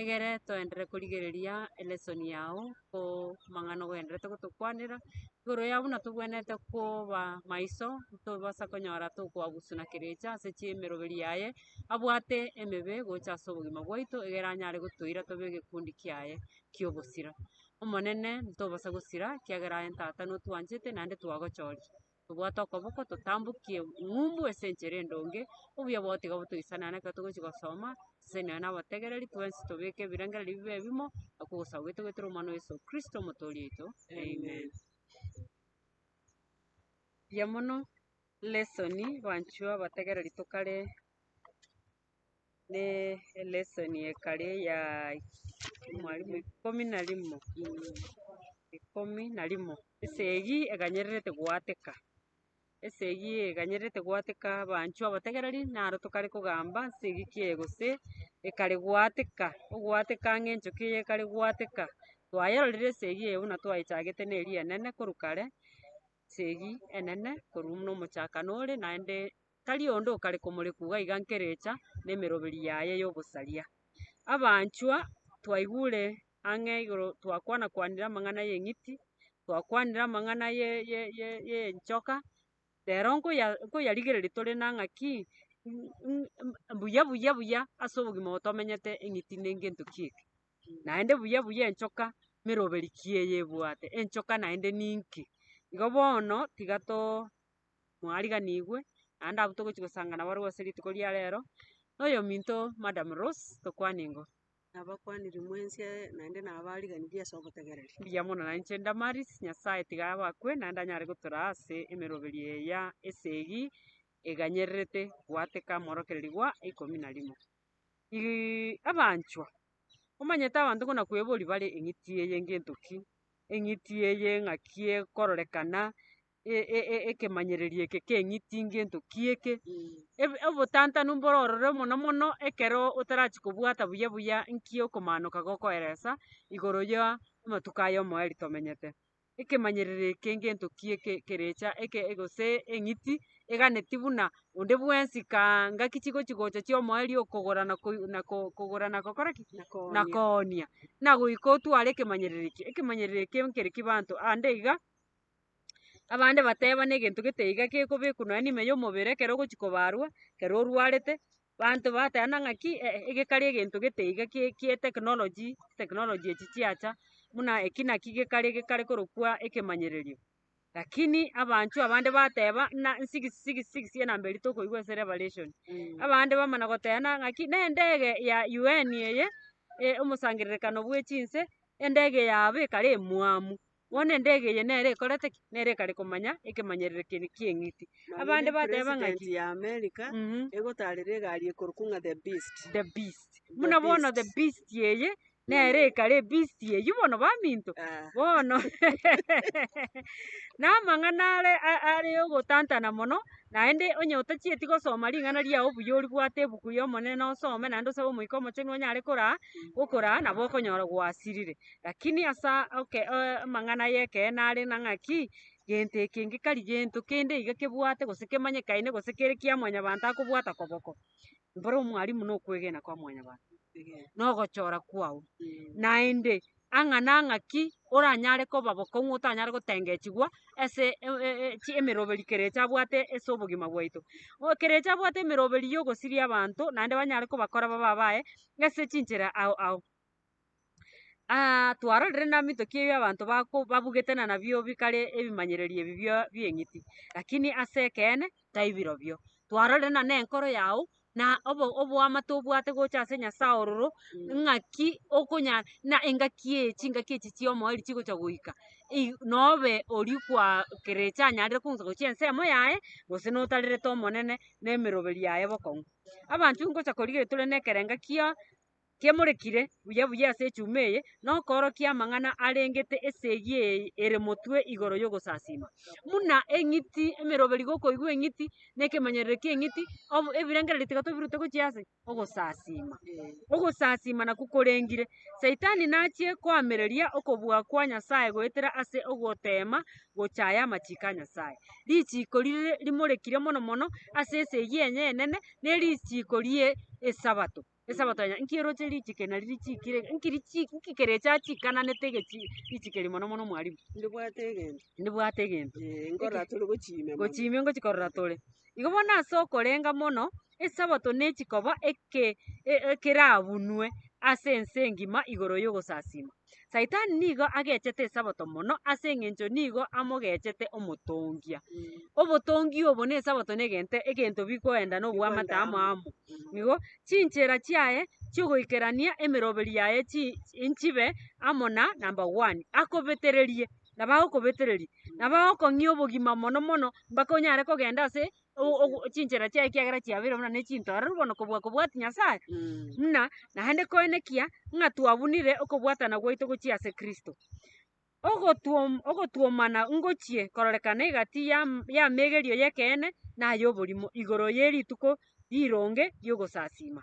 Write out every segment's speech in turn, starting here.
egere toenderere korigereria elesson yago ko amang'ana ogenderete gotokwanera, igoro ya buna tobwenerete koba maiso tobasa konyora tokoabusu na kerecha ase chiemeroberi yaye, abwate emebe gocha ase obogima bwaito egere anyare gotoira tobe egekundi kiaye ki'obosira. Omonene ntobasa gosira ekiagera aye ntata notwanchete naende twagochoria. tobwate okoboko totambokie eng'umbu ase enchera endonge, obuya bwao tiga botoisana naki ekero togochia gosoma, seseni nonya na abategereri, twensi tobeke ebirengererio bibe ebimo, oko ogosaba gwaito goetera Omwana o Yeso Kristo Omotoori oito, Amen. Buya mono, lesson, Banchuo abategereri tokare ne elesson ekare ya mwalimu ikomi na rimo, ikomi na rimo. Esegi ekanyererete goateka, esegi eye ekanyererete goateka abanchwa abategereri naro tokare kogamba nse egiki eye gose ekare goateka, ogoateka ang'e enchoki eye ekare goateka. Twayerorire esegi eye buna twayechagete na eria enene korwa kare, esegi enene korwa buna omochakano ore naende. tari onde okare komorekugha iga nkerecha nemeroberi yaye yobosaria. Abanchwa, twaigure ang'e igoro twakwana kwanire amang'ana y'eng'iti, twakwanire amang'ana y'enchoka, rero nkoya nkoyarigereria tore na ng'a ki buya buya buya ase obogima obo tomenyete eng'iti ne gento ki eke. Naende buya buya enchoka meroberi ki eye ebwate, enchoka naende ninki? Igo bono tiga too. mwariganigwe, naende abwo togochia gosanga nabo arigwe ase rituko ria rero, na oyominto Madam Rose, tokwane ingo. Nabakwanirie mwensi aye, naende nabariganirie ase obotegereri. Mbuya mono na inche Damaris, Nyasae tiga abakwe, naende anyare gotoraa ase emeroberio eya esegi eganyererete goateka morokererigwa ikomi na rimo. Ri- abanchwa, omanyete abanto buna kweboria bare eng'iti eye ngento ki? Eng'iti eye ng'aki ekororekana? e- e- e- ekemanyererio eke keng'iti ngento ki eke, eb- obotantanu mboro ororo mono mono ekero otarachi kobwata buya buya nki okomanoka gokoeresa igoro ya amatuko aya omoeri tomenyete. Ekemanyerero eke ngento ki eke kerecha eke gose eng'iti eganeti buna onde bwensi kaa ngaki chigochi gocha chia omoeri okogora na koi na ko- kogora na gokora ki? Na koonia. Nagoika otware ekemanyerero eke, ekemanyerero eke nkere kibanto ande iga. abande bateba na egento gete iga gekobekwa nonya neime ya omobere ekero ogochi kobarwa ekero orwarete, banto bateba buna ng'aki eh egekare egento gete iga kie kie technology technology echi chiacha buna eki naki gekare gekare korokwa ekemanyererio. Lakini abanchwo abande bateba buna sigisi sigisi sigisi enamba eria tokoigwa ase revelation abande bamana goteba buna ng'aki na endege ya UN eye omosangererekano bwe chinse endege yabo ekare emwamu. Bono endege eye nere ekorete ki? Nere ekare komanya ekemanyerero kere ki'eng'iti. Abande bateba ng'aki? President ya America Mhm. egotarera egari ekorokwa ng'a the beast. The beast. The Buna bono the beast. beast eye nere ekare ebeast eyio bono baminto. Ah. Bono namang'ana are a- are ogotantana mono, naende onye otachieti gosoma ring'ana riao buya oribwate ebuku ri'Omonene osome naende osabe Omoika Omochenu onyare koraa, gokoraa nabo okonyora gwasirire. Lakini ase amang'ana y'ekeene are ng'a ng'aki, gento eke ngekari gento kende iga kebwate gose kemanyekaine gose kere kia mwanyabanto akobwata koboko, mboro omwalimu na okwegena kwa mwanyabanto, na ogochora kwao. Naende ang'a na ng'aki oranyare koba bokong'u otanyare gotengechigwa ase emeroberi kere echa abwate ase obogima bwaito. Kere echa abwate emeroberi ya ogosiria abanto naende banyare kobakora babe abaye ase chinchera ao ao. twarorire namito ki ebio abanto bako babugete na nabio bikare ebimanyereri ebi bia bieng'iti, lakini ase ekeene taibirobio. Twarorire na nenkoro yago na obo oboamate obwate gocha ase Nyasaye ororo, ng'aki okonya na engaki eye chingaki echi chiaomoeri chigocha goika i nobe oria kwaa kerecha anyarire kogosa gochia ensemo yaye gose notarerete Omonene na emeroberio yaye bokong'u. Abanto ngocha korigereria tore nekerenga kia. kemorekire buya buya ase echuma eye, na okoorokia amang'ana arengete esegi eye ere motwe igoro y'ogosasiima, buna eng'iti, emeroberi gokoigwa eng'iti, na ekemanyererio ki'eng'iti, obo ebirengererio tiga tobirute gochia ase ogosasiima. Ogosasiima nakwo korengire. Saitani nachie koamereria okobua kwa Nyasae goetera ase ogoteema gochaaya amachiko a Nyasae. Richiiko rire rimorekire mono mono ase esegi enye enene nerichiiko rie Esabato. Esabato anya, nki eroche richiko nari richiko ire, nki richi nki kere echa achiikananete egechi richiko eri mono mono mwarimu? Ndibwate egento, Ndibwate egento. eh, nkorora tore gochia ime mono. Gochia ime ngochi korora tore. Igo bono ase okorenga mono, Esabato nechi koba eke e- ekerabunwe ase ense engima igoro y'ogosasiima. Saitani nigo agechete Esabato mono ase eng'encho nigo amogechete omotongia. Obotongi obo na Esabato negento egento bigoenda na obwamate amo amo. Igo chinchera chiaye chiogoikerania emeroberi yaye chi- nchibe amo na number one, akobetererie nabo agokobetereria nabo agokong'ia obogima mono mono mpaka onyare kogenda ase o- o- o- chinchera chiaye ekiagera chiabeire buna nechitororo bono kobua kobwati Nyasaye, muna naende koenekia ng'a twabunire okobwatana gwaito gochia ase Kristo. Ogotwom ogotwomana ngochie kororekana egati yam yameegerio y'ekeene na ay'oborimo igoro ye rituko rironge ri'ogosasiima.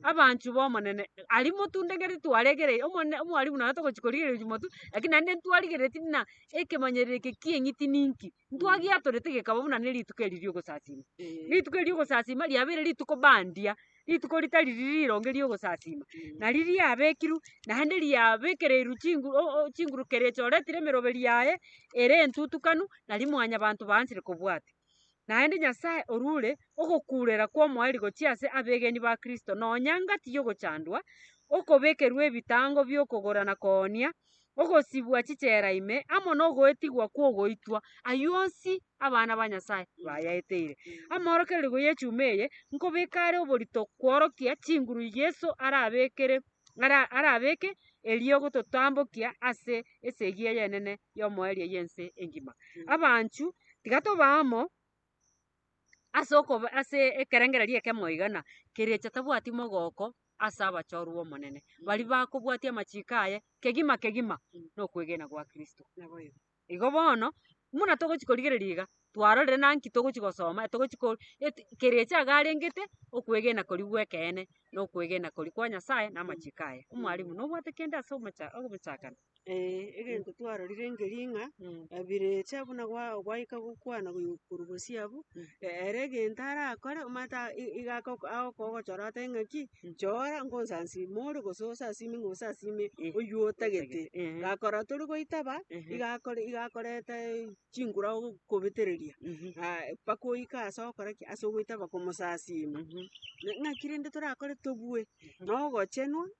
Abanchwa b'Omonene, aria motundegereti twaregereri Omonene omwarimu naye togochi korigereria motu, lakini naende ntwarigereretie buna ekemanyererio eke ki'eng'iti ninki. ntwagiatorete gekaba buna ne rituko eri ri'ogosasima. Rituko eri ri'ogosasima riabeire rituko bandia, rituko ritari riria rironge ri'ogosasima, nari riabekirwe naende riabekereirwe chingu o- o chinguru kera echoretire emeroberi yaye ere entutukanu nari mwanyabanto baansire kobwata. Naende Nyasae orure ogokuurera kw'omoeri gochia ase abegeni ba Kristo nonya ngati y'ogochandwa, okobekerwa ebitango bi'okogora na koonia, ogosibwa chichera ime, amo nogoetigwa kw'ogoitwa, ayio onsi abana ba Nyasae bayaeteire. Amorokererio y'echuma eye nkobeka are oborito kworokia chinguru Yeso arabekere ara- arabeke erio gototambokia ase esegi ey'enene y'omoerio y'ense engima. Abanchu, tiga tobe amo. ase okoba ase ekerengererio ekemo iga na kerecha tabwati mogoko ase abachorwa b'Omonene, baria bakobwatia amachiko aye kegima kegima na okwegena gwa Kristo. Igo bono, buna togochia korigereria iga, twarorire na nki togochia gosoma, etogochia ko eti kerecha iga arengete, okwegena koria gw'ekeene na okwegena koria kwa Nyasae na amachiko aye. Omwalimu, nobwate kende ase omocha ogochakana? Ee, egento twarorire engerii ng'a Mm. abirecha buna gwa- gwaika gokwana goyu- korwa bosio abwo, e- ere egento arakore omanyete a- i- iga ako- agokogochora otebe ng'a ki, chora ngonsansimi more gose osasime ng'a osasime Eh. oywo otagete. Ehe. Gakora tori goitaba, Ehe. iga akore- iga akorete chinguru ago kobetereria, Mhm. aye mpaka oike ase ogokora ki, ase ogoitaba komosasima. Mhm. Na- Naki rende torakore tobue, na ogochenwa,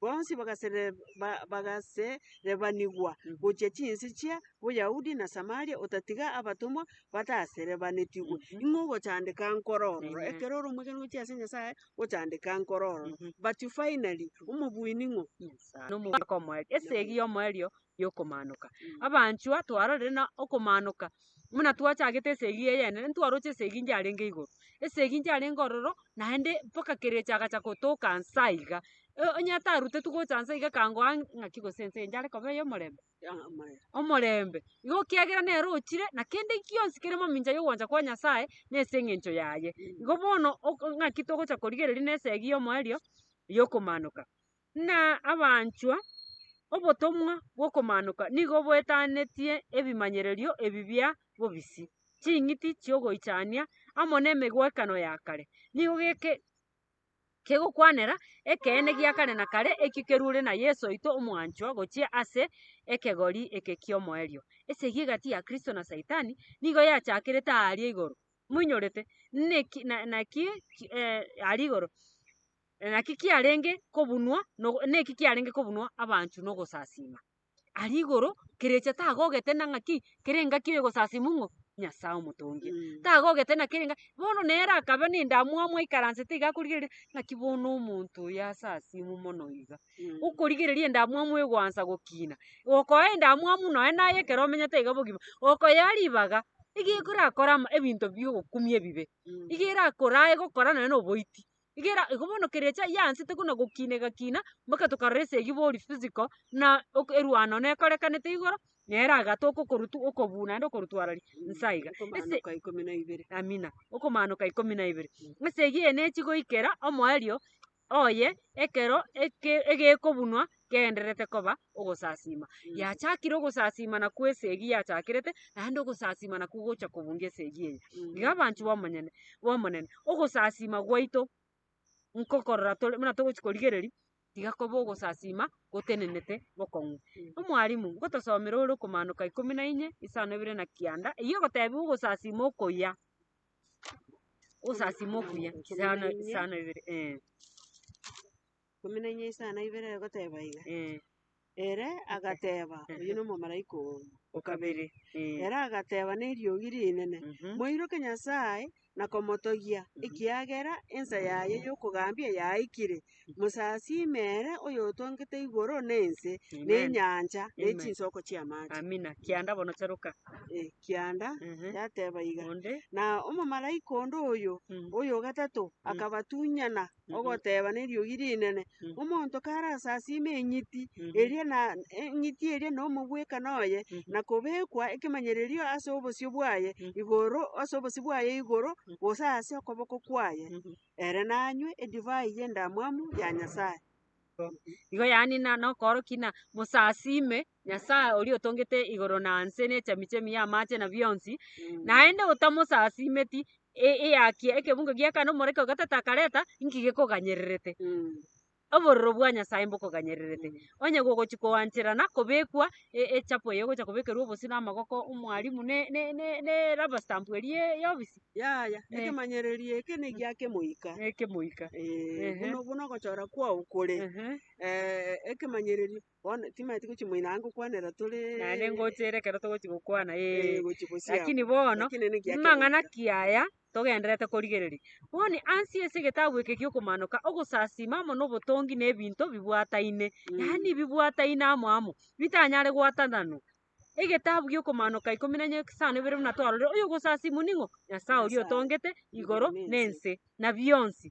bonsi bagasereba- bagaserebanigwa gochia chinse chia Boyahudi na Samaria, otatiga abatomwa bataserebanetigwe. Ing'o ogochandeka nkoro ororo? Mhm. Ekero ore omogeni gochia ase Nyasae, gochandeka nkoro ororo. Mhm. But finally, omobuini ng'o? Nyasae. Nomogaka omoerio. Esegi y'omoerio y'okomanoka. Abanchwa, twarorire na okomanoka, buna twachagete esegi eyene, rende ntwaroche esegi inche yarenge igoro, esegi inche yarenge ororo, naende mpaka kerecha agacha gotoka nsa aiga. E- onye atarutetwe gocha nsa iga akangoa ng'a ng'aki gose ense eye yare koba eyomorembe? omorembe. Igo ekiagera nere ochire, na kende gionsi kere mamincha y'ogwancha kwa Nyasaye, nase eng'encho yaye. Igo bono ok- ng'aki togocha korigereria nesegi y'omoerio, y'okomanoka. Ng'a abanchwa, obotomwa bw'okomaanoka nigo boetanetie ebimanyererio ebi bia bobisi. Ching'iti chi'ogoichania amo nemegwekano ya kare nigo kegokwanera ekeene gia kare na kare ekio kerure na Yeso oito omwanchwa gochia ase ekegori eke ki'omoerio. Esegi egati ya Kristo na Saitani nigo yachakerete aaria igoro. Moinyorete? Naki? Aria igoro. na naki kiarenge kobunwa no- neki kiarenge kobunwa abanchu na ogosasima. Aria igoro, kerecha tagogete na ng'aki, kere engaki oyo egosasimu ng'o Nyasae omotongi. Tagogete na kere enga, bono nere akabe na endamwamu amoikaransete iga akorigereria ng'aki bono omonto oyo asasimu mono iga. Okorigereria endamwamu egoansa gokina, gokoa endamwamu nonye naye ekero omenyete iga bogima, okoyea ribaga, iga ekorakore ama ebinto biogokumia ebibe, iga erakore aye gokora nonye na oboiti. Igera igo bono keria echa yansete buna gokinegakina mpaka tokarora esegi bori physical buna ok erwano nekorekanete igoro nere agatoka okorutu okobuna naende okorutwara ri nsa iga ase amina okomanoka ikomi na ibere. Esegi eye nechi goikera omoerio oye ekero eke egekobunwa gendererete koba ogosasiima. Yachakire ogosasiima nakwo esegi yachakerete, naende ogosasiima nakwo gocha kobunga esegi eye. Iga abanchwa b'omonyene b'Omonene, ogosasiima gwaito nkokorora tore buna togochia korigereria, tiga kobe ogosasiima gotenenete bokong'u. Omwalimu, ngotosomera ore okomanoka ikomi na inye, isano ibere na kianda, eyio egotebiwa ogosasiima okuya, ogosasiima okuya, isano isano ibere eeh. ikomi na inye isano na ibere egoteba iga. Ere agateba, Oyio nomomalaika oo o kabere. Ere agateba neriogi rinene, Moiroke Nyasae na komotogia, ekiagera ensa yaye y'okogambia yaikire. Mosasiime ere oyotongete igoro na ense, na enyancha, ne chinsoko chi'amache. Ekianda yateba iga. Na omomalaika onde oyio, oyo o gatato, akabatunyana ogoteba neriogi rinene, Omonto karasasime eng'iti eria na eng'iti eria na omogwekano oye, na kobekwa ekemanyererio ase obosio bwaye igoro ase obosio bwaye igoro, gose ase okoboko kwaye, ere nanywe edivai y'endamwamu ya Nyasae. Igo yaani na nokoorokia ng'a mosasime Nyasae oria otongete igoro na nse ne chemichemi y'amaache na bionsi, naende otamosasiimeti, e- eyakia ekebungo gi'eka na omoreke o gatato akareta, inki gekoganyererete? Obororo bwa Nyasae mbokoganyererete. Onye gogochia koanchera na kobekwa e- echapo eye egocha kobekerwa obosio na amagoko a omwalimu na e- ne- ne- ne rubber stamp eria ya- y'obisi, Yaya, Eh. ekemanyererio eke negia akemoika. na ekemoika. Eh, Ehe. buna- buna ogochora kwao kore, Ehe. eh, ekemanyererio Bono timanyeti tigochi moino anga gokwanera tore Naende ngochiire ekero togochi gokwana ee. eh, gochi bosiamo. Lakini bono, Lakini niki ake- mang'ana ki aya togendererete korigereria? Boni, ansi ase egetabu eke gi'okomaanoka, ogosasiima amo nobotongi nebinto bibwataine, Mm. yaani bibwataine amo amo, bitanyare gwatananwa. Egetabu gi'okomaanoka ikomi na gisano ebere buna twarorire, oyogosasiimwa ning'o? Nyasae oria Nyasae. otongete igoro Igoro na na ense. ense, na bionsi.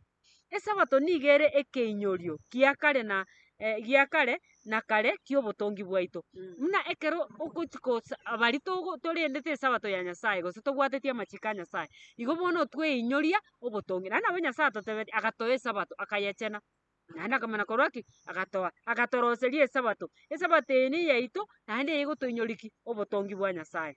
Esabato nigo ere ekeinyorio gia kare na eh, gia kare na kare ki'obotongi bwaito. Buna ekero ogochi gosa abari togo- torendete esabato ya Nyasae gose tobwateti amachiko a Nyasae, igo bono tweinyoria obotongi. Naende nabo Nyasae atotebeti agatoa esabato akayechena, naende akamana korwa ki? Agatoa, agatoroseria esabato. Esabato eye neyaito naende eye egotoinyoria ki? Obotongi bwa Nyasae.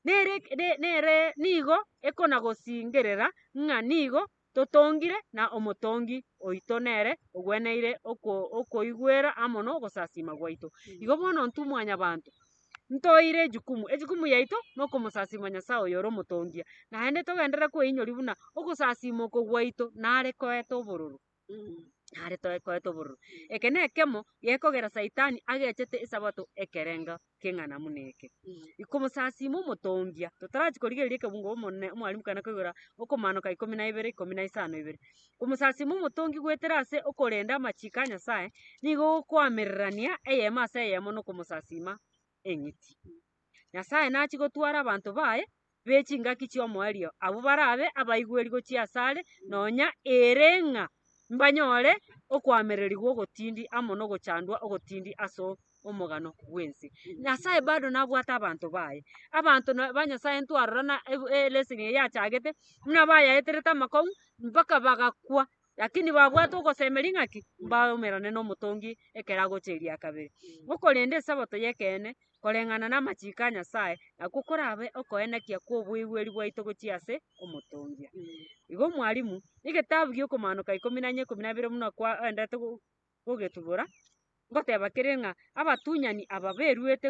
Nere eke- ne- nere nigo ekona gosingerera ng'a nigo totongire, na omotongi oito nere ogweneire oko- okoigwera amo nogosasima gwaito. Igo bono intwe Mwanyabaanto ntoire ejukumu, ejukumu yaito nokomosasima Nyasae oyore omotongia, naende togenderere kweinyoria buna ogosasima oko gwaito nare koeta obororo nare toe koeta obororo. Eke nekemo gekogera Saitani agechete Esabato ekerenga. keng'ana buna eke. Ikomosasiima omotongia, totarachia korigereria ekebungo omonene omwarimu kare nakoigora okomaanoka ikomi na ibere, ikomi na isano ibere. Komosasiima omotongi goetera ase okorenda amachiiko a Nyasae, nigo gokwamererania eyemo ase eyemo nokomosasiima eng'iti. Nyasae nachia gotwara abanto baye be chingaki chi'omoerio, abwo barabe abaigweri gochia asare, nonya ere ng'a mbanyore okoamererigwa ogotindi amo nogochandwa ogotindi as'omogano bw'ense. Nyasaye bado nabwate abanto baye, abanto na ba Nyasaye ntwarora na e- e- leseni eye yachagete, buna bayaeterete amakong'u mpaka bagakwa. Lakini babwate ogosemeria ng'a ki? Mbaumerane n'omotongi ekero agocha erio ya kabere. Okorenda esabato y'ekeene koreng'ana namachiko a Nyasae, nakwo korabe okoenekia kw'oboigweri bwaito gochia ase omotongia. Igo Mwalimu, egetabu gi'okomanoka ikomi na ikomi na ibere buna kwaendete. gogetubora, ngoteba kere ng'a abatunyani aba beruete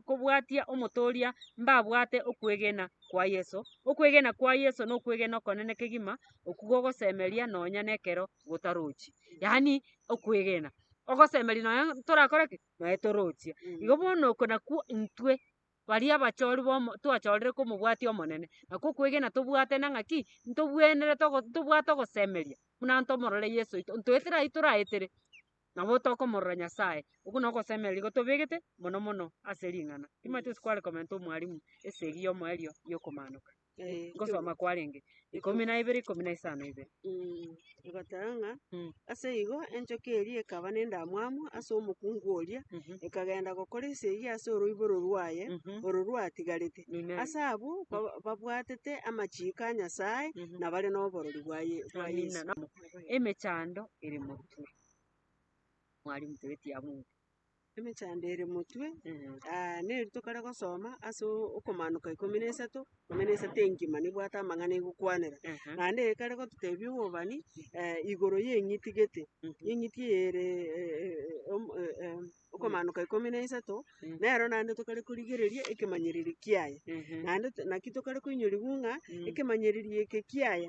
kobwatia omotooria mbabwate okwegena kwa Yeso. Okwegena kwa Yeso nokwegena okonene kegima okwo gogosemeria nonya nekero gotarochi. Yaani okwegena ogosemeria nonya torakore ki? Nonya torochie. Igo bono oko nakwo intwe. baria abachori bomo twachorire komobwatia Omonene. Nakwo okwegena tobwate na ng'aki, ntobwenerete ogo ntobwate ogosemeria buna ntomorore Yeso oito, ntoetera ayio toraetere nabo tokomorora Nyasaye. Okwo na ogosemeria gotobegete mono mono ase ring'ana. Timanyete gose kware komenta omwalimu esegi y'omoerio y'okomaanoka. Eh, Ngosoma kwarenge. Ikomi na ibere, ikomi na isano ibere. Mm, egoteba ng'a Mm. ase igo enchoka eria ekaba nendamwamu ase omokungu oria Mhm. ekagenda gokora esegi ase oroiboro rwaye Mhm. oro rwatigarete Amen. ase abwo ba- babwatete amachiiko a Nyasae Mhm. na bare noborori bwa Ye- bwa Amina. Yeso. Na- Emechando ere moruture. Mwarimu toeti ya Mungu. Emechando ere motwe, neri tokare gosoma ase okomaanoka ikomi na isato, ikomi na isato engima nebwate amang'ana egokwanera. Naende eye ekare gototebia obobani igoro y'eng'iti gete, eng'iti eye ere okomaanoka ikomi na isato, nero naende tokare korigereria ekemanyereri kiaye. Naende naki tokare koinyoriwu ng'a ekemanyererio eke kiaye.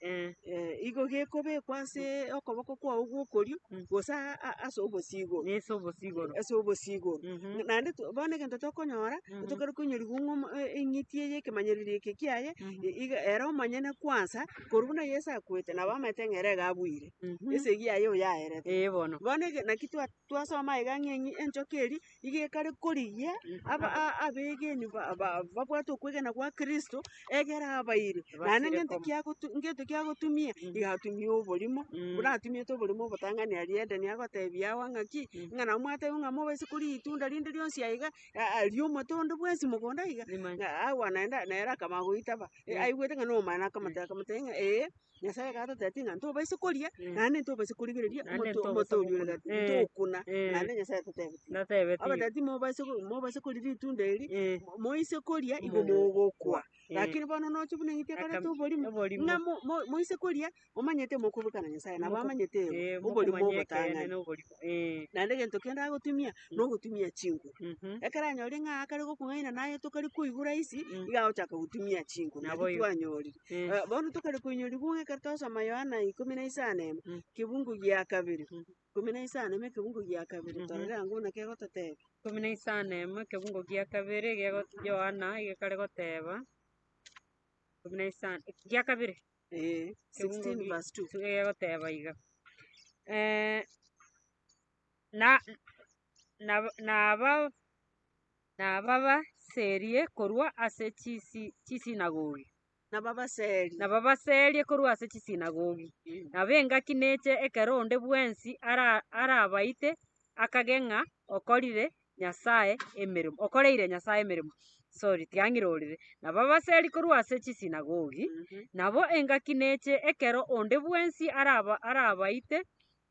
Eh. eh, igo gekobekwa ase okoboko kwao gw'okorio, Mm. gose a- a- ase obosigo Nese obosigoro. ase obosigo Mhm. naende to- bono egento tokonyora Mhm. ntokare koinyorigwa ng'a omo- e- eng'iti eye ekemanyererio eke kiaye Mhm. i- iga ere omonyene kwansa korwa buna yeso akwete nabo amaete ng'a ere iga abwire Mhm. esegi yaye oyo yaerete Eh, bono. bono ege- naki twa- twasoma iga ng'a eng'i- enchoka eri iga ekare korigia aba a- abegenwa ba- ba- babwate okwegena gwa Kristo, egere abaire, naende ngento kiagotu ngento kiagotumia, iga atumie oborimo, buna atumiete oborimo obotang'ani aria Edeni agotebia agwo ng'a ki, ng'a nabo mwatebia ng'a mobaise koria ritunda rinde rionsi aiga, a- a riomote onde bwensi mogondo aiga, ng'a agwo naende nere akaba agoitaba, aigwete ng'a nomwana akamotebia akamotebia ng'a eh. Nyasaye gatotebia ng'a ntobaisa koria, naende ntobaisa korigereria omoto omote oria o egati, ntokuna, naende Nyasaye atatebeti, abatebia timobaisa ko mobaisa koria ritunda eri, moise koria igo mogokwa. Rakini bono nocha buna eng'iti ekoreta oborimo, ng'a mo mo moise koria, momanyete mokoburekana Nyasaye, nabo amanyete oborimo obotang'ani. Naende egento kende agotumia. na ogotumia chinguru. Ekero anyorire ng'a akare gokong'aina na aye tokare koigwa rahisi, iga agochaka gotumia chinguru. Nabo Naki igo. twanyorire. Eh, Bono tokare koinyorigwa ng'a ekero twasoma Yohana ikomi na isano emo, kebungo gia kabere, ikomi na isano emo ekebungo gia kabere, Mhm. torore ango buna kegototeba. Ikomi na isano emo ekebungo gia kabere gego- Yohana egekare goteba, ikomi na isano gia kabere Eh, Kebungo 16 gi- verse 2. egegoteba iga, eh, nababaserie korwa ase chisinagogi, nabo engaki neche ekero onde bwensi arabaite akage ng'a okorire Nyasae emeremo, okoreire Nyasae emeremo, sorry tiang'iroreire, nababaserie korwa ase chisinagogi, nabo engaki neche ekero onde bwensi arabaite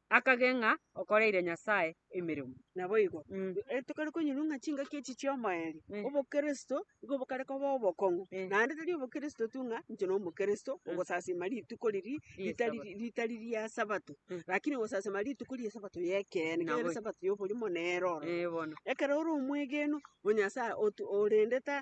akage ng'a okoreire Nyasae emeremo. Naboigo, Mm. ekero tokare konyurwa ng'a chingaki echi chi'omoerio, Eh. obokristo nigo bokare koba obokong'u, Eh. naende tari obokristo tu ng'a inche nomokristo, Mm. ogosasima rituko riri ritari Ri'esabato. ritari ria sabato, Mm. rakini ogosasima rituko ri'esabato y'ekeene, ekero ere Naboigo. esabato y'oborimo nero ororo. Eh, bono. Ekero ore omwegenu o Nyasae otu- orende ta.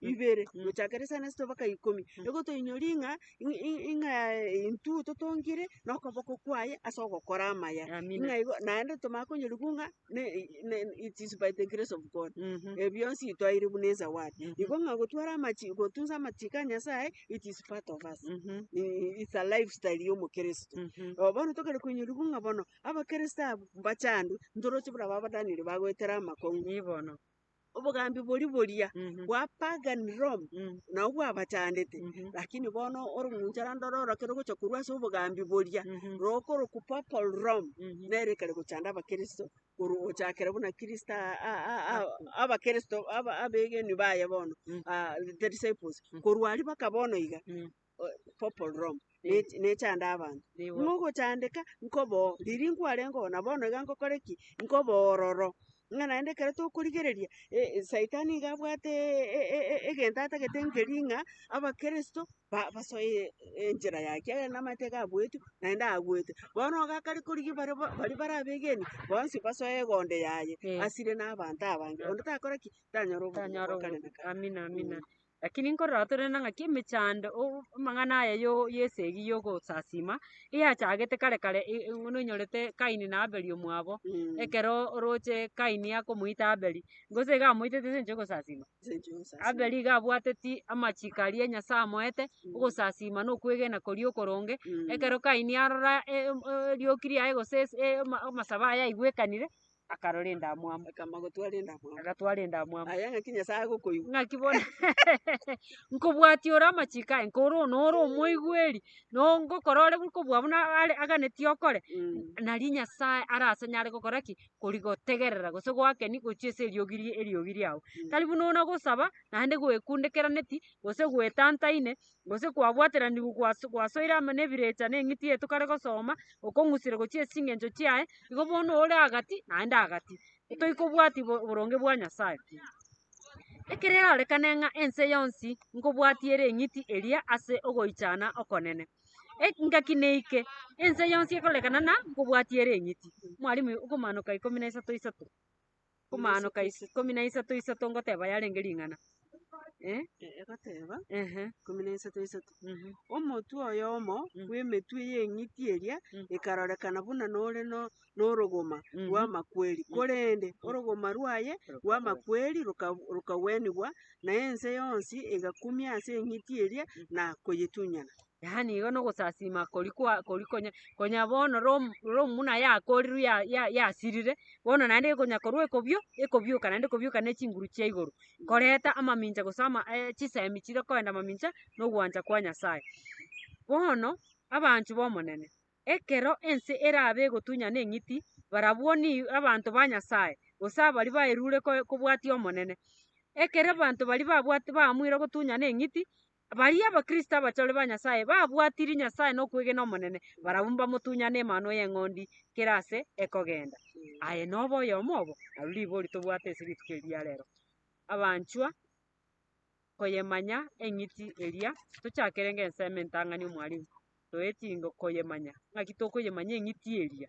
ibere, Mm. gochakera isano esito mpaka ikomi, Mm. nigo toinyorie ng'a i- i- ing'a intwe totongire nokoboko kwaye ase ogokora amaya. Amina. Ng'a igo naende tomanye konyorigwa ng'a ne- i- ne- it is by the grace of God. Mhm. Ebi bionsi twaeirwe buna esawadi. Mhm. Igo ng'a gotwara amachi gotunsa amachiko a Nyasaye it is part of us. Mhm. I- It's a lifestyle y'omokristo. Mhm. Obo bono tokare koinyorigwa ng'a bono abakristo abwo mbachandwe ntoroche buna babadanire bagoetera amakong'u. Nibono. Obogambi boria boria bwa pagan Rome nabwo bwabachandete, lakini bono orong'unchara ndore orokio rogocha korwa ase obogambi boria rokorokwa papal Rome nere ekare gochanda abakristo korwa gochakera buna kristo aa- aa- aa- aa- abakristo aba- abegenwa baye bono disciples korwa aria mpaka bono iga. purple room, ne- Eh. nechande abanto. Nigo. Mogochandeka nkoboo, riria nkwarenge oo, na bono iga nkokore ki? Nkoboo ororo. Ng'a naende ekero tokorigereria, e- saitani iga abwate e- e- e- egento atagete nkeri ng'a abakristo ba- basoe enchera yaye, ekiagera namaete iga abuetu, naende aagwete. Bono iga akare korigia bare bo baria bare abegeni, bonsi basoe egondo yaye, Eh. asire na abanto abange. Onde takore ki? Tanyara obogima Tanyara bwa kare na kare. Amina, amina. Mm. Lakini nkorora torende ng'aki emechando o- amang'ana aya yo- y'esegi y'ogosasima, eyachagete kare kare e- e- buna onyorete Kaini na Abeli omwabo, ekero oroche Kaini akomoita Abeli, gose iga amoitete ase engencho y'ogosasima? Abeli iga abwateti amachiko aria Nyasae amoete, ogosasima na okwegena koria okoronge, ekero Kaini arora e- em- erioki riaye gose ase ama- amasabo aye aigwekanire, akarora endamwamu, Akamba, Gotwara endamwamu. agatwara endamwamu. Aye ng'aki Nyasaye agokoigwa. Ng'aki bono nkobwatia ore amachiko aye, nkore one ore omoigweri, no ngokora ore buna kobua buna are aganetie okore, Mm. nari Nyasaye arase nyare gokora ki? Kori gotegerera gose goakeni gochia ase eriogi rie eriogi riao. Mm. Tari buna ona gosaba, naende gwekundekeraneti, gose gwetantaine, gose kwabwateranigwe gwas- gwasoire amo na ebirecha na eng'iti yaito kare gosoma, okong'usire gochia ase ching'encho chiaye, igo bono ore agati naende agati, toikobwati bo- boronge bwa Nyasae. Ekero erarekane ng'a ense yonsi nkobwatia ere eng'iti eria ase ogoichana okonene, eki ngaki neike, ense yonsi ekorekana na nkobwatia ere eng'iti. Mwarimu, Okomaanoka ikomi na isato isato. Komaanoka is- ikomi na isato isato ngoteba yarenge ring'ana. Eh? E- egoteba Ehe. ikomi na isato isato Mhm. omotwe oyomo Mm. bw'emetwe y'eng'iti eria Mm. ekarorekana buna nore no- norogoma Mhm. rw'amakweri, Mm. korende orogoma rwaye rw'amakweri roka- rokagwenigwa, na ense yonsi egakumia ase eng'iti eria na koyetunyana. yaani igo nogosasima koria kwa koria konya konya bono rom romuna yakorirwe ya- ya- yasirire, bono naende ekonya korwa ekobio ekobioka naende ekobioka na echinguru chia igoro, koreta amamincha gose ama chisemi chire koenda amamincha na ogwancha kwa Nyasaye. Bono, abanchwa b'Omonene, ekero ense erabe egotunyana eng'iti, barabwo ni abanto ba Nyasaye, gose abaria baerure koe kobwatia Omonene. Ekere abanto baria babwati baamwire gotunyana eng'iti, Baria Abakristo abachore ba Nyasae babwatirie Nyasae na okwegena Omonene, barabwo mbamotunyane Emanwa y'Eng'ondi kera ase ekogenda. Aye nobe oyomo obo, nario ribori tobwate ase rituko eri ria rero. Abanchwa, koyemanya eng'iti eria tochakerenge ensemo entang'ani omwarimu, toetinge koyemanya. Ng'aki tokoyemanya eng'iti eria?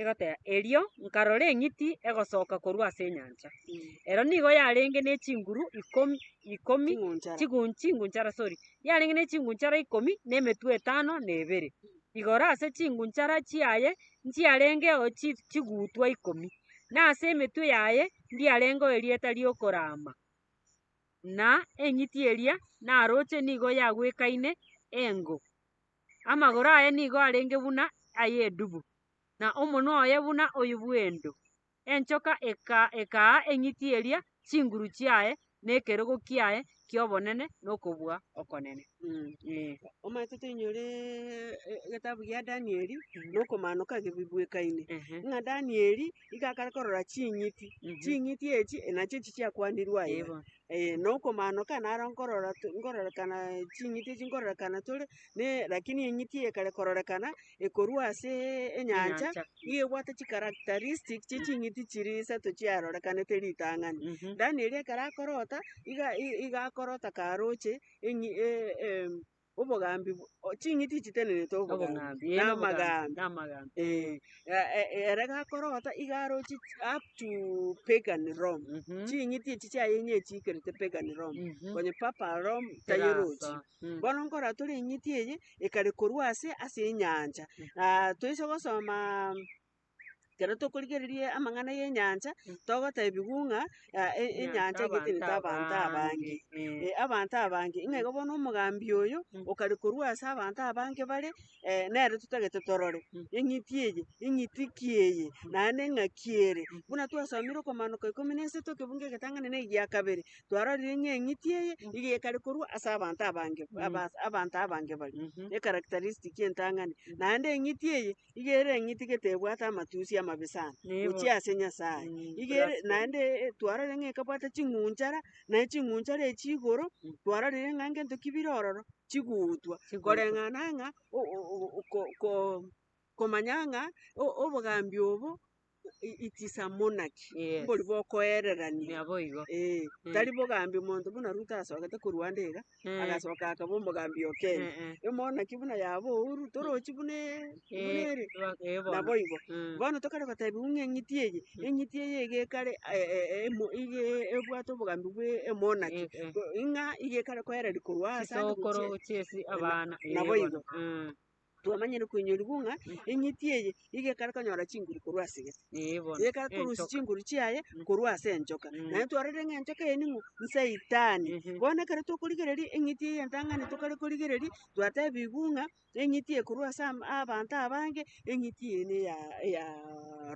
egoteba, Erio nkarora eng'iti egosoka korwa ase enyancha. Ero nigo yarenge ne chinguru ikomi ikomi Chingunchara. chigun- chingunchara sorry, yarenge ne chingunchara ikomi na emetwe etano na ebere. Igoro ase chingunchara chiaye nchiarengeo chi- chigutwa ikomi, na ase emetwe yaye ndiarengeo erieta ri'okorama. Na eng'iti eria naroche nigo yagwekaine engo. Amagoro aye nigo arenge buna ay'edubu, na omonwa oye buna oyio bw'endo. Enchoka ekaa eng'iti eria chinguru chiaye na ekerogo kiaye ki'obonene na okobua okonene. Omanyete toinyore egetabu gia Danieli na okomaanoka ake bibwekaine, ng'a Danieli nigo akare korora ching'iti, ching'iti echi nachio echi chiakwanirwe aye. Ee, na okomaanoka naro nkorora to- nkorororekana ching'iti echi nkorororekana tore, ne rakini eng'iti eye ekare kororekana ekorwa ase enyancha, Enyancha. nigo ebwate chicharacteristic chie ching'iti chiria isato chiarorekanete ritang'ani. Mhm. Danieli ekero akorota, iga i- iga akorota karoche eng'i- e- em. Obogambi bwo, ching'iti echi tenenete obogambi, na amagambi, eh. Ere gakorota iga aroche up to pagan Rome, ching'iti echi chiaye ng'a echiikerete pagan Rome, onye papa Rome tayerochi. Bono nkorora tore eng'iti eye, ekare korwa ase ase enyancha, toise gosomaa. ekero tokorigereria amang'ana y'enyancha, togotebiwu ng'a ah e- enyancha egete nete abanto abange. Eh, abanto abange, ng'a igo bono omogambi oyo, okare korwa ase abanto abange bare, nere totagete torore, eng'iti eye, eng'iti ki eye, naende eng'aki ere. Buna twasomire okomaanoka ikomi na isato ekebungo egetang'ani na egia kabere, twarorire ng'a eng'iti eye, nigo ekare korwa ase abanto abange, abas abanto abange baria, echaracteristic entang'ani. Naende eng'iti eye, iga ere eng'iti getebwate amatusi amabe sana Nigo. gochia ase Nyasae. Mm, Iga ere, blas- naende eh, twarorire ng'a ekabwate ching'unchara, naye ching'unchara echi igoro, twarorire ng'a ngento ki bire ororo, chigutwa. Chigutwa. Koreng'ana ng'a o- o- o- ko- ko- komanya ng'a o- obogambi obo it is a monarchy, Yes. mbori bokoererania. Naboigo. Eh, Mm. tari bogambi monto buna Ruto asogete ko Rwanda iga, Eh, agasoka akaba omogambi o Kenya. eh, eh, Emonarchy buna yaba oo Ruto, torochi buna e- buna eh, ere. ba- eh, bono. Naboigo. Mm. Bono tokare goteba ng'a eng'iti eye, Mm. eng'iti eye iga ekare eh, eh, emo- iga ebwate obogambi bwa emonarchy. Eh, eh. Ko- Ng'a iga ekare koereria korwa ase ande gochia- Chisokoro, chiesi, abana. eh, Naboigo. bono. Mm. Twamanyire kwenyorigwa ng'a eng'iti eye nigo ekare konyora chinguru korwa ase gete. Ee bono. Nigo ekare korusia Enchoka. chinguru chiaye Mm. korwa ase enchoka. Mm. Naende twarorire ng'a enchoka eye ning'o? Nsaitani. Ehe. Bono ekero tokorigereria eng'iti eye entang'ani tokare korigereria, twatebigwa ng'a eng'iti eye korwa ase am- abanto abange, eng'iti eye neya eya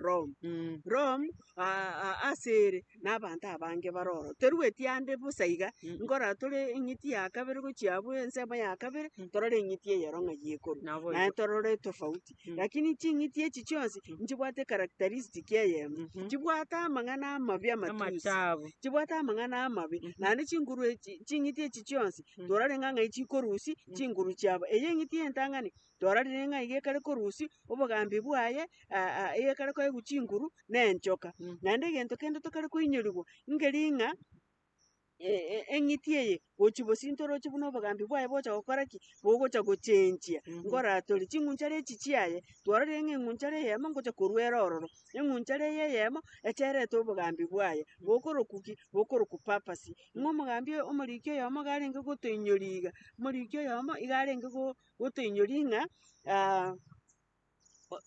Rome. Mm. Rome, ase ere na abanto abange bare oro. Terueti ande bosa iga, nkorora tore eng'iti ya kabere gochia abwo ensemo ya kabere, torore eng'iti eyero ng'a yi ekorwa. Nabo Naye igo. torore etofauti. Mm. Rakini ching'iti echi chionsi, Mm. nchibwate ekaracteristic eyemo. Mhm. Chibwate amang'ana amabia amatusi. Amatabu. Chibwate amang'ana amabe. Mhm. Naende chinguru echi, ching'iti echi chionsi, Mm. torore ng'a ng'ai chikorusia, Mm. chinguru chiabo. Eye eng'iti entang'ani, torarire ng'a iga ekare korusia obogambi bwaye ekare koegwa chinguru na enchoka. Naende egento kende tokare koinyorigwa, ngeri ng'a eng'iti eye gochia bosio intwe oroche buna obogambi bwaye bogocha gokora ki? Bogocha gochenchia ngoratore. Ching'unchara echi chiaye, twarorire ng'a eng'unchara eyemo ngocha korwa ere ororo, eng'unchara eye eyemo echa erete obogambi bwaye, bokorokwa ki? Bokorokwa purpose. Ng'a omogambi oyo, omoriki oyomo iga arenge gotoinyoria iga, omoriki oyomo iga arenge go. gotoinyoria ng'a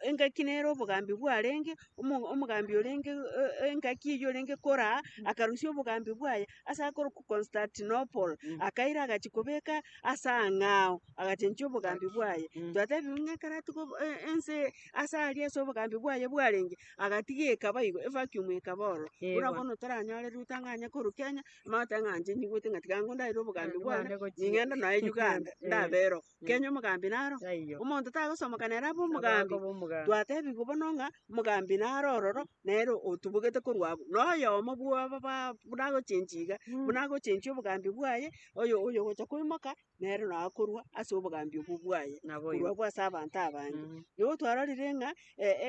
engaki nere obogambi bwarenge, omo- omogambi orenge e- e- engaki eywo orenge kora aa, akarusia obogambi bwaye ase akorokwa Constantinople, akaira agachia kobeka ase ang'ao, agachenchia obogambi bwaye. Twatebiwu ng'a ekero atiga obo- e- ense ase aria ase obogambi bwaye bwarenge, agatiga ekaba igo, evacuum ekaba oro. Buna bono toranyorire Ruto ang'anye korwa Kenya. Mata ng'a inche nyigwete ng'a tiga ngondagere obogambi bwane, ning'ende noe Uganda, ndaberoo. Kenya omogambi naro? Taiyo. Omonto tagosomoka nere abe omogambi. Abe omogambi. Twatebigwa bono ng'a omogambi naro ororo, nere otobogete korwa abwo. Na oyomo bw'aba ba- buna agochenchia iga, buna agochenchia obogambi bwaye, oyo oyo ogocha koimoka. nere nonya akorwa ase obogambi obwo bwaye, korwa bwa ase abanto abange. Nigo twarorire ng'a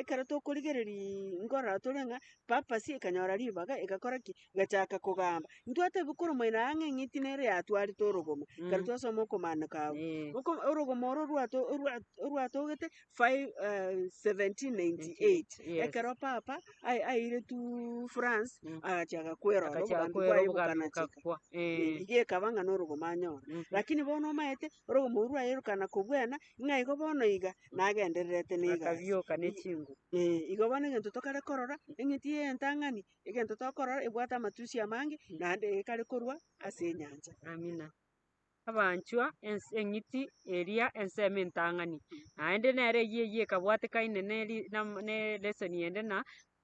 ekero tokorigereria nkorora tore ng'a purpose ekanyora ribaga egakora ki? Egachaka kogamba. Ntwatebiwa kore omoyene aye ng'a eng'iti nere eyatwarete orogoma, ekero twasoma okomaandiko agwo. Oko- orogomo oro orwato- orwa- orwatogete. Five, eh, 1798 Yes. ekero papa ai- aire tu france Mm. agachia agakwerora Agachia obogambi agakwera bwaye obogambi bokanacheka bokakwa. Eh, Eh. igo ekaba ng'a norogomo anyora Mhm. lakini bono omaete orogomo oru rwayerekana kobwena ng'a igo bono iga nagendererete na egasi Akabioka ne I- chingu. Eh, igo bono egento tokare korora eng'iti ya entang'ani egento tokorora ebwate amatusi amange naende ekare korwa ase enyancha Amina. Abanchwa, ense eng'iti eria ensemo entang'ani, naende nere eyio eyio ekabwatekaine ne ri nam- ne lesson ende na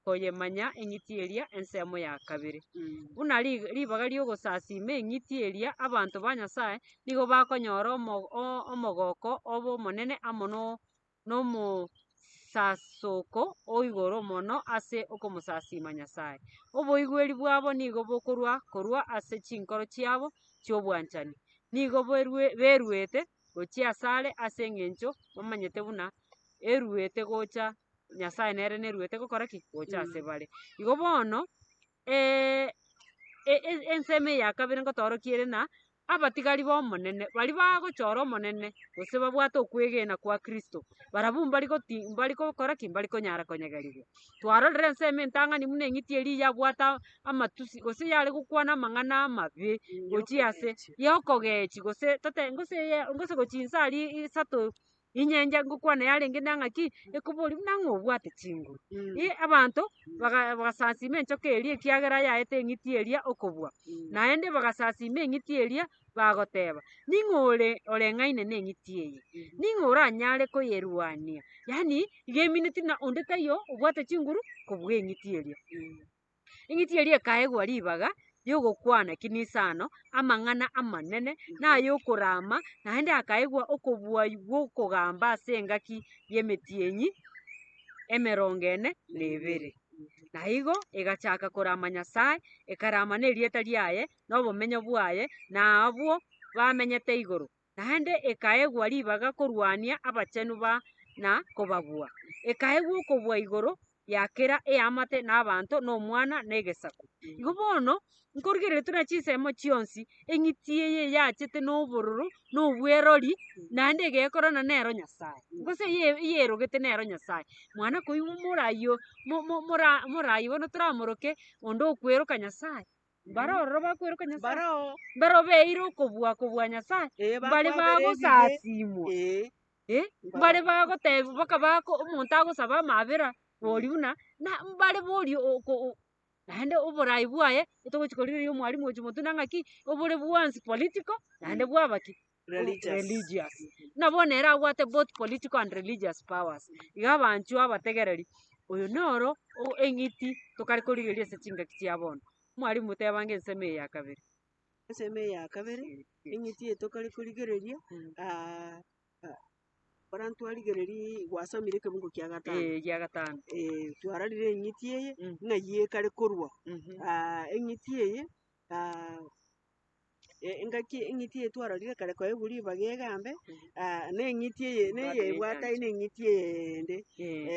koyemanya eng'iti eria ensemo ya kabere. Buna rig- ribaga ri'ogosasiima eng'iti eria abanto ba Nyasaye nigo bakonyora omo- o- omogoko obe omonene amo no. nomosasoko o igoro mono ase okomosasiima Nyasae. Oboigweri bwabo nigo bokorwa korwa ase chinkoro chiabo chi'obwanchani. Nigo beruete gochia asare ase engencho bamanyete buna eruete gocha Nyasae nere neruete gokora ki? Gocha ase bare. Igo bono ensemo eye ya kabere ngotoorokie ere ng'a, abatigari b'Omonene baria bagochora Omonene gose babwate okwegena kwa Kristo, barabwo mbari goti mbari gokora ki? Mbari konyara konyegerigwa. Twarorire ensemo entang'ani buna eng'iti eria yabwate amatusi gose yare gokwana amang'ana amabe gochia ase, ya okogechia gose tote gose ya gose gochia inse aria isato. Inyencha ngokwana yarenge na ng'aki ekoboria buna ng'a obwate chinguru. Ii abanto baga- bagasasima enchoka eria ekiagera yaete eng'iti eria okobua, naende bagasasima eng'iti eria bagoteba, ning'o ore oreng'aine na eng'iti eye? Ning'o oranyare koyerwania? Yaani iga emineti buna onde taiyo obwate chinguru kobua eng'iti eria. Eng'iti eria ekaegwa ribaga ri'ogokwana kinisano, amang'ana amanene, na ay'okoraama, naende hakaegwa okobwayi gw'okogamba ase engaki y'emetienyi emerongo ene na ebere. Na igo egachaka koraama Nyasae, ekaraama nerieta riaye, na obomenyo bwaye, na abwo bamenyete igoro. naende ekaegwa ribaga korwania abachenu ba na kobabua, ekaegwa okobua igoro ya kera eamate na abanto na omwana na egesaku. Igo bono nkorigereria tuna chinsemo chionsi eng'iti eye eyachete na obororo na obwerori naende egekorana nero Nyasae, gose eye- eyerogete nero Nyasae. Mwana koigwa morai o- mo- mo- mora- morai bono toramoroke onde okweroka Nyasae, Mbare ororo bakweroka Nyasae. Mbare oo. Mbare obeire okobua kobua Nyasae. Ee, Mbare bagosasimwa. Ee. Eh, mbare bagoteba boka bako omonto agosaba amabera bori buna na mbare bori oko naende oborai bwaye otogochi korigereria omwalimu ochi motwe nang'aki obore bwansi political naende bwaba ki. religious. Buna bono ere abwate both political and religious powers. Iga abanchwa abategereri, oyo noro o- eng'iti tokare korigereria ase chingaki chia bono. Mwalimu tebange ensemo eye ya kabere. Ensemo eye ya kabere, eng'iti eye tokare korigereria, Mm. ah, ah, ekero twarigereria gwasamire ekebungo kia gatano, Eh, egia gatano. eh, twararire eng'iti eye Mm. ng'ai ekare korwa. Mhm. Ah, eng'iti eye, ah, engaki eng'iti eye twarorire kare koba egu ribaga egambe, na eng'iti eye na eyebwate aye na eng'iti eyende.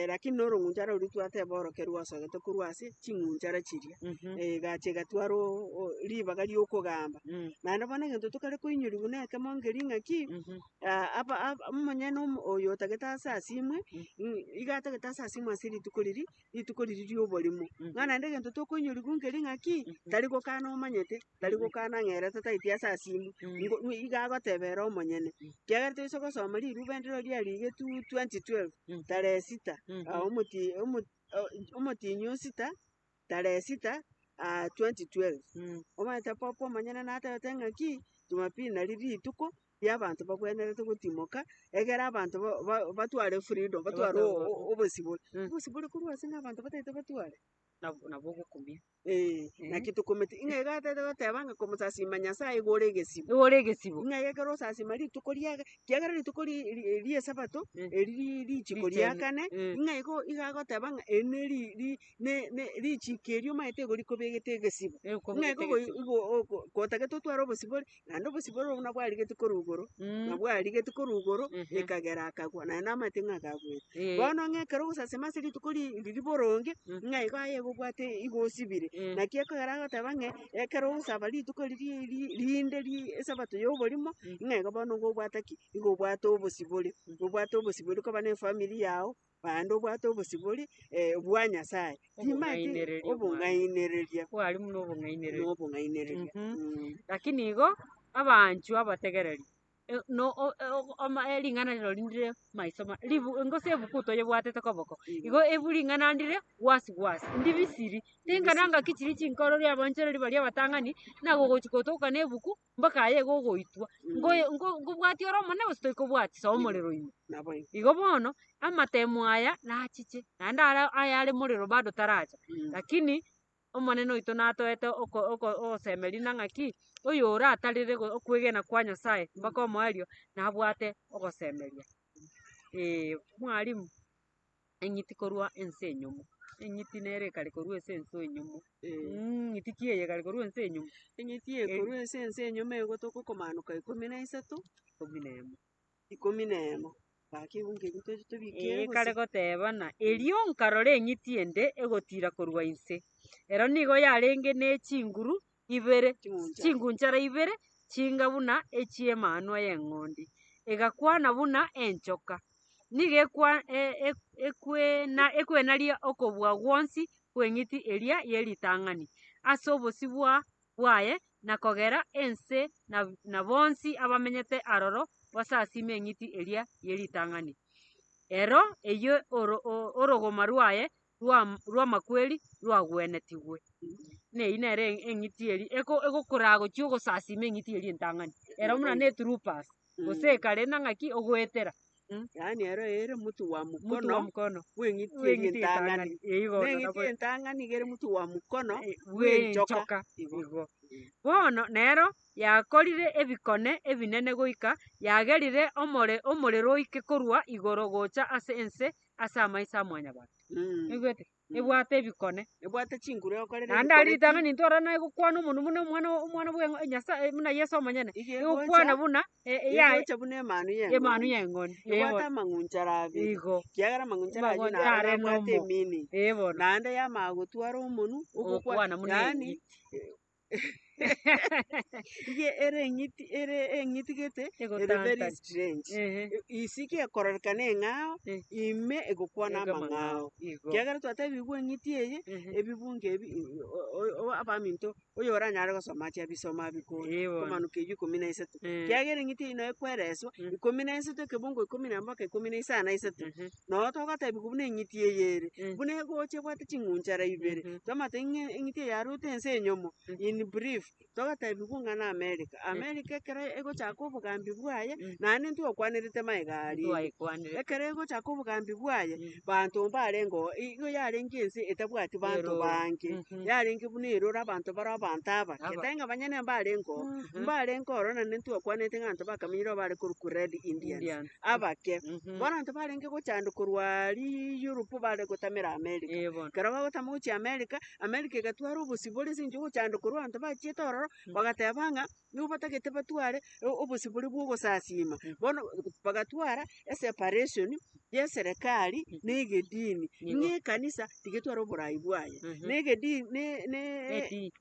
Lakini na orong'unchara roria twateba orokia rwasogete korwa ase ching'unchara chiria, egacha egatwara o- o- ribaga ria okogamba. Naende bono egento tokare koinyoriwu na ekemo nkeria ng'aki, aba ab- omonyene omo- oyo otagete ase asimwe, iga atagete ase asimwe ase rituko riria, rituko riria ri'oborimo, ng'a naende egento tokoinyoriwu nkeri ng'aki, tari gokana omanyete, tari gokana ng'a ere tataeti ase asimu, ngo ng'o iga agoteba ere omonyene. Kiagera toise gosoma riruba endiro eria riagetu 2012, tarehe sita, ah omoti omo oh omotienyi o sita, tarehe sita, ah 2012. Omanyete papa omonyene natebete ng'aki, Jumapili nari rituko. y'abanto bagwenerete gotimoka, egere abanto ba- ba- batware efreedom, batware o- o- o- obosibore. Mm. Obosibore korwa ase ng'a abanto bataete batware? Nabo nabo ogokumia. Eeh, Eh. naki tokometi- ng'a iga atete goteba ng'a komosasima Nyasaye igo ore egesibo. Nigo ore egesibo. Ng'a iga ekero osasima rituko riaga, kiagera rituko ri- ri- ri'esabato, Eh. eri ri- richiko Riche- ria kane, eh. ng'a igo iga agoteba ng'a eri neri- ri- ne- ne- richiko erio omanyete igo rikobegete egesibo. Nigo Ng'a ekobegete igo goi- egesibo. igo oko- gotagete otware obosibore, Naende obosibwa oro buna bwarigetie korwa igoro, na bwarigetie korwa igoro, Ehe. ekagera akagwa, naye namate ng'a akagwete. Eh, Bono ng'a ekero ogosasima ase rituko ri- riria boronge, Mm. ng'a igo aye igo obwate igo osibire. eh, Naki ekogera agoteba ng'a ekero ogosaba rituko riria ri- rinde ri- esabato y'oborimo, Mm. ng'a igo bono igo obwate ki? Igo obwate obosibore. Obwate obosibore koba na efamiri yao, naende obwate obosibori bwa Nyasaye, timanyeti Obong'ainereria bwa- obong'ainereria Kware buna obong'ainereria. na obong'ainereria. Mhm. Mm. Lakini igo, abaanchwa abategereri, e- no o- o- oma- e- ring'ana rire rori ndire maiso ma ribu gose ebuku toyebwatete koboko, igo ebu ring'ana ndire gwasi gwasi, ndibisiri, ringana ngaki chiria chinkoro ri'abaanchoreri baria abatang'ani, nagogochi gotoka nebuku mpaka aye gogoitwa ngoe ngo ngobwatia ore omonene gose toikobwatia soa omorero ime. Nabo ime. Igo bono, amatemo aya nachiche, naende are ayare morero bado taracha, lakini Omonene oito natoete oko oko ogosemeria na ng'a ki, oyoratarire go okwegena kwa Nyasaye mpaka omoerio, nabwate ogosemeria. Eeh mwarimu. eng'iti korwa ense enyomo, eng'iti nere ekare korwa ense ense enyomo, ng'iti ki eye ekare korwa ense enyomo? Eng'iti eye korwa ense ense enyomo egotoka okomaanoka ikomi na isato, ikomi na emo, ikomi na emo, gaki igo nkebua toche tobike ere gose. Ekare gotebana, erio nkarora eng'iti ende egotiira korwa inse. Ero nigo yarenge ne chinguru ibere, chingunchara ibere chinga buna echi'emanwa y'eng'ondi, egakwana buna enchoka. Nigo ekwa- e- e- ekwena- ekwenaria okobua gwonsi kw'eng'iti eria ye ritang'ani ase obosio bwa bwaye, na kogera ense na na bonsi abamenyete aroro basasime eng'iti eria ye ritang'ani. Ero eyio oro- o- orogoma rwaye rwam rwamakweri rwagwenetigwe. Na eyio nere e- eng'iti eri eko egokoraa gochia ogosasima eng'iti eria entang'ani, ero buna ne troopers, gose ekare na ng'aki ogoetera Yaani ero ere omotu bwa omotu bwa mokono mokono bw'eng'iti eria bw'eng'iti entang'ani. entang'ani. Eyi bono Neng'iti nabo entang'ani iga ere omotu bwa mokono eh, bw'enchoka. bw'enchoka Igo. igo. Bono nero yakorire ebikone ebinene goika yagerire omore omorero oike korwa igoro gocha ase ense ase amaiso a Mwanyabanto. Oigwete? Ebwate ebikone. Ebwate chinguru egokorera Naende ari ebikore ritang'ani ntorora naye gokwana omonwa buna omwana o- omwana bw'eng'o Nyasaye buna Yeso omonyene. Iga egocha- Egokwana buna e- e- iga yaye egocha buna emanu y'eng'ondi. emanu y'eng'ondi. Ee Ebwate bono. amang'uncho ara abere. Igo. Ekiagera amang'uncho ara ayio Amang'uncho naro are nabwate nomo. emini. Ee bono. Naende yamanya gotwara omonwa Ogokwana ogokwana buna yaani eye. Iga ere eng'iti ere eng'iti gete ere very Egotantana. strange. Ehe. Isiko ekororekana eng'ao, Eh. ime egokwana Ego amang'ao. amang'ao. Igo. Kiagera twatebigwe eng'iti eye, Ehe. ebibunge ebi i- o- o- o- abaminto oyo oranyare gosoma ache abisoma abikore. Ee bono. Komanwa keywo ikomi na isato. Eh. Kiagera eng'iti eye noyo ekwereswa, Mm. ikomi na isato ekebungo ikomi na embaka ikomi na isano na isato. Ehe. Nabo togotebi buna eng'iti eye ere, buna egocha ebwate ching'unchara ibere, twamate ng'a eng'iti eye yaruete ense enyomo, in brief, togotebi buna ng'a n'America. America ekero egochaka obogambi bwaye, naye nintwe okwanerete magega aria ime. Twaekwanire. Ekero egochaka obogambi bwaye, banto mbarengeo, igo yarenge ense etabwati banto Eroro. bange, Mhm. yarenge buna eroro abanto bare abanto abake, Aba- tari ng'a banyene mbarengeo, mbarenge ororo naende intwe okwanete ng'a abanto bakamenyire oo bare korokwa Red Indians. Indians. abake. Mhm. Bono abanto barenge gochanda korwa Europe bare gotamera America. Eh, bono. Ekero bagotama gochia America, America egatwara obosio bore ase eng'encho yogochanda korwa abanto bachiete ororo, Mm. bagateba ng'a nigo batagete batware o- obosio boria bwa ogosasiima. Mm. Bono bagatwara eseparation ya eserekari Mhm. na egedini. Nigo. Ng'a ekanisa tigetware oborai bwaye. Mhm. Na egedi- ne- ne- Edini.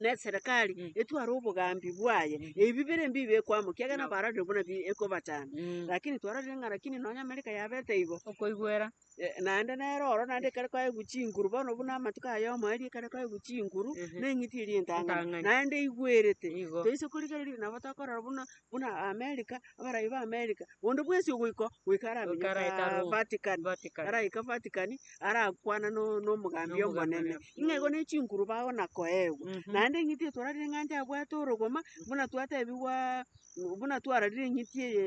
neserekari etware obogambi bwaye, ebi bibere mbiya bikwe amo, ekiagera nabo arorire buna bi- ekobachanda. Rakini twarorire ng'a rakini nonya Amerika yabete igo, Okoigwera. eh, naende nere oro naende ekero kwaigwa chinguru, bono buna amatuko ayomo aria ekero kwaigwa chinguru, na eng'iti eria entang'ani, Entang'ani. naende eigwerete, Igo. toise korigereria nabo tokorora buna buna Amerika, abarai ba Amerika, onde bwensi ogoiko, goika aramenya Goika ara Hekalu. Vatican, Vatican. araika Vatican, arakwana no- nomogambi Nomogambi omonene, oria. ng'a igo ne chinkuru bao na koegwa. Mhm. Naende eng'iti eye twararire ng'a inche abwate orogoma, buna twatebigwa, buna twararire eng'iti eye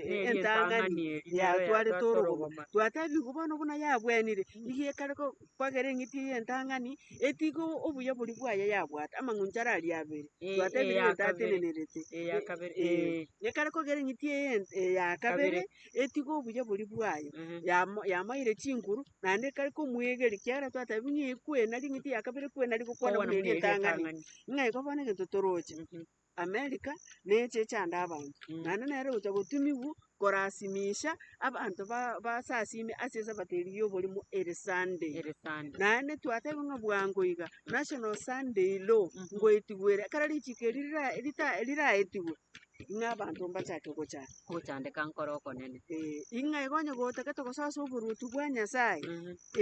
Neri entang'ani, entang'ani eri, nero yatwarete yatwarete orogoma. orogoma. Twatebigwa bono buna yabwenire, nigo ekare ko- kwagera eng'iti eye entang'ani, etige o- obuya boria bwaye yabwate, amang'uncho ara aria abere, Eh, twatebire eya kabere, ng'o tatenenerete. eya kabere, Eh, eh. eh. Ekare kogera eng'iti eye ent- eya kabere, Kabere. etiga obuya boria bwaye, Mhm. yamo- yamoeire chinguru, naende ekare komoegeria, ekiagera twatebia ng'a ekwena ring'iti ya kabere ekwena rigokwana Kogwana buna eria buna eria etang'ani. etang'ani. Ng'a igo bono egento toroche, Mhm. America neche echande abanto, Mm. naende nere gocha gotumigwa korasimisha abanto ba- basasime ase esabateri y'oborimo ere Sunday. Ere Sunday. naende twateba ng'a bwango iga national Sunday law Mhm. ngoetigwere ekero richiko eri rira- rita- riraetigwe Ng'a abanto mbachake gocha. Gochandeka nkore okonene. Ee, ing'a iga onye gotagete gosasa oboruoti bwa Nyasae,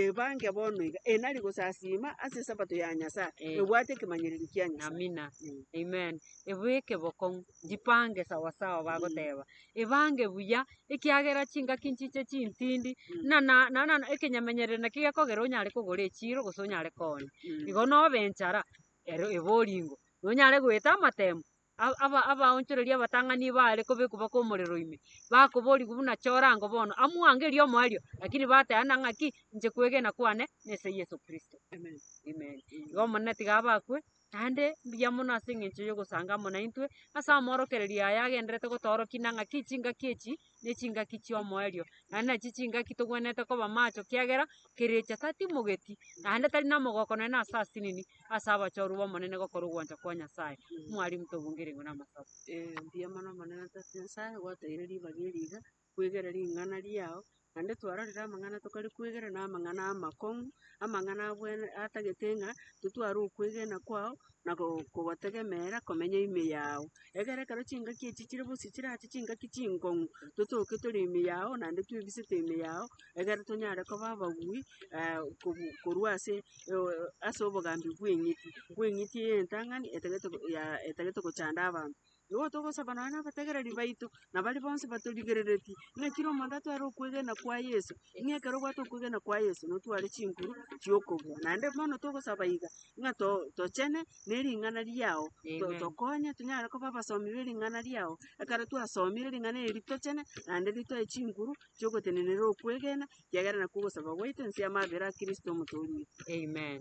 ebange bono iga, enari gosasiima ase Esabato ya Nyasae, Ee. ebwate ekemanyererio kia Nyasae. Amina. Mm. Amen. Ebu ekebokong'u, njipange sawasawa bagoteba. Ebange buya, ekiagera chingaki nchiche chintindi, Mm. na- na- na- na- na ekenyamenyerero naki gekogera onyare kogora echiro gose onyare koonia. Mm. Igo nobe enchara, ero ebe oringo, nonyare goeta amatemo, a- aba- abaonchoreria abatang'ani iga baare kobekwa baka omorero ime, bakoborigwa buna chorango bono, amwango erio omoerio, lakini bateana ng'aki, inche kwegena kwane nese Yeso Kristo. Amen. Igo Omonene tiga abe akwe, naende mbuya mono ase eng'encho y'ogosanga amo naintwe, ase amaorokererio aya agendererete gotoorokia, na ng'aki chingaki echi ne chingaki chi'omoerio, naende nachi chingaki togwenerete koba macho kiagera kerecha tatimogeti, naende tari namogoko nonye na ase asinini ase abachorwa b'Omonene gokora ogwancha kwa Nyasae. Mwarimu tobungeire igoro amasaaba. Eeh mbuya mono omonene Tata Nyasae gwatoeire ribaga eri iga, kwegera ring'ana riao, naende twarorire amang'ana tokare kwegera na amang'ana amakong'u, amang'ana abwene atagete ng'a totware okwegena kwao, na kogotegemeera komenya ime yao. Egere ekero chingaki echi chire bosio chirache chingaki chingong'u, totoke tore ime yao naende twebisete ime yao, egere tonyare koba abagui kobu- korwa ase ase obogambi bw'eng'iti, bw'eng'iti y'entang'ani etagete ya- etagete gochanda abanto. Nigo togosaba nonya nabategereri baito, na baria bonsi batorigereretie, ng'a kera omonto atware okwegena kwa Yeso, ng'a ekero obwate okwegena kwa Yeso, notware chinguru chi'okobua. Naende bono togosaba iga, ng'a to- tochene nering'ana riao, to- tokonye tonyare koba abasomi bering'ana riao, ekero twasomire ring'ana eri ritochene, naende ritoe chinguru chi'ogotenenera okwegena, ekiagera nakwo ogosaba gwaito ense y'amabera a Kristo Omotoori oito. Amen.